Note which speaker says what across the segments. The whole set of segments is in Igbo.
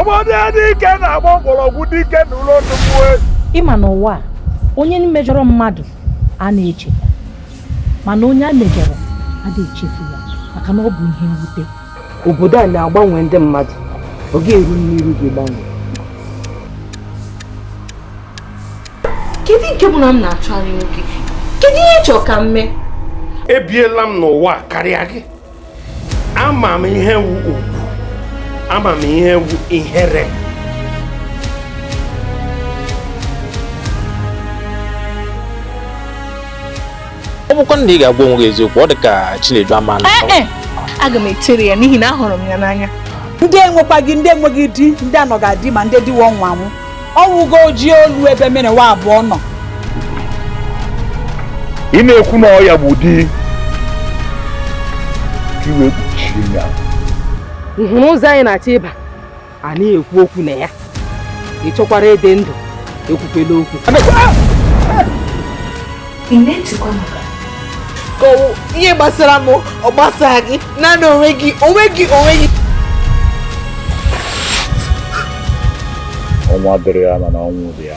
Speaker 1: obodo dị ike na-agba mgbọrọgwụ dị ike na ụlọ nnukwu ezi ị ma na ụwa a onye mejọrọ mmadụ a na-echeta mana onye e mejọrọ ada echefu ya maka na ọ bụ ihe mwute obodo a na-agbanwe ndị mmadụ ọ ga-eru n'iru gị gbanwe kedu nke bụ na m na-achọ enyi nwoke kedu ihe ị chọrọ ka m mee ebiela m n'ụwa karịa gị ama m ihe wu ugwu ama m ihe wu ihere ọ bụkwa na ị ga-agwa onwe gị eziokwu ọ dị ka Chinedu ama na ee aga m etere ya n'ihi na ahụrụ m ya n'anya ndị enwekwaghị ndị enweghị di ndị anọ ga-adị ma ndị di wọ nwa nwụ ọnwụgo ojii olu ebe mere nwa abụọ nọ ị na-ekwu na ọ ya bụ di ka iwe kpuchie ya ị hụrụ ụzọ anyị na-achọ ịba a na-ekwu okwu na ya ị chọkwara ịdị ndụ ekwukwela okwu ị na-etikwa maka ka ọ wụ ihe gbasara m ọ gbasara gị naanị onwe gị onwe gị onwe gị ọnwa dịrị ya mana ọnwụ dị ya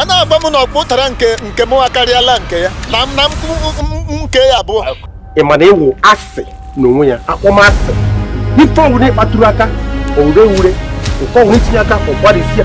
Speaker 1: a na-agwa m na ọkpụ ụtara nke mụwa akarịala nke ya nna m nke ya abụọ ị ma na ị wụ asị n'onwe ya akpọmasị ife ọ wụna ị kpatụrụ aka o wure ure nke ọ wụna i tinye aka ọ gbarịsịa